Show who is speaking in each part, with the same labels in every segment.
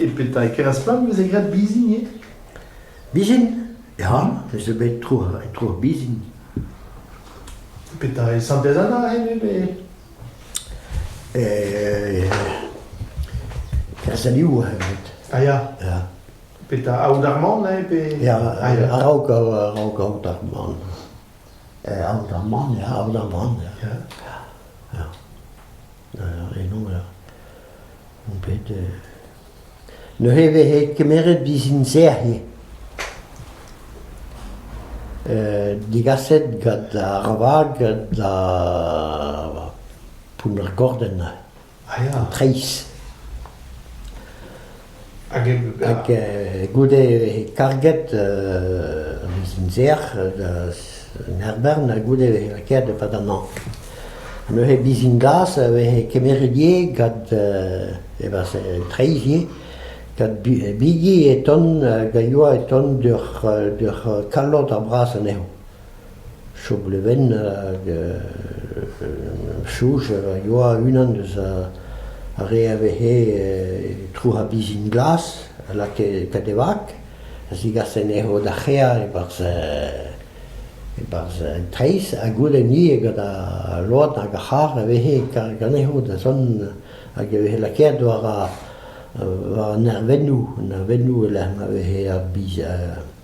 Speaker 1: E petra e keras-plant veze graet bizin ivez Bizin
Speaker 2: ya, ez eus bet tro tro ar bizin. Petra
Speaker 1: e santez Anna hen ivez Eh,
Speaker 2: kerzh a liv evet. Ah ya Ya, Petra aout
Speaker 1: ar man eh, pe... ya,
Speaker 2: araok
Speaker 1: araok araok aout
Speaker 2: ar man. Aoterman, ya, Aoterman,
Speaker 1: ya,
Speaker 2: ya, ur renaud, ur on bet neuze e veze kemeret bizin-serr ivez, degaset gant ar vag da Pounnergordenn.
Speaker 1: Treizh.
Speaker 2: Hag goude karget bizin-serr en Herbern ha goude lakaet e-pad an hañv. Neuze bizin-glas a veze kemeret ivez gant e-barzh treizh ivez, gant bigi e ton hag a yoa e ton d'ur kalloud ar bras anezho. chom levenn hag choj a yoa unan eus ar re a vehe e trouc'h ar bizin glas a lakae pet e vag a zigase anezho da c'hreañ e-barzh e-barzh an treizh ha goude-ni gant al load hag ar c'harr a vehe ganezho da zont hag e vehe lakaet war an nervennoù nervennoù e-lec'h ma vehe ar biz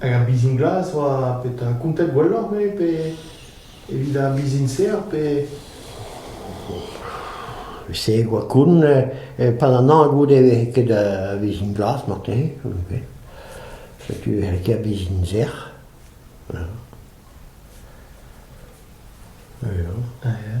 Speaker 1: Hag ar bizin glas oa petra kontet gwelloc'h-me pe evit ar bizin-se ar pe...
Speaker 2: Se e oa koun padanañ goude e vefe ket ar bizin glas marteze setu e c'hell ket ar bizin sec'h ya.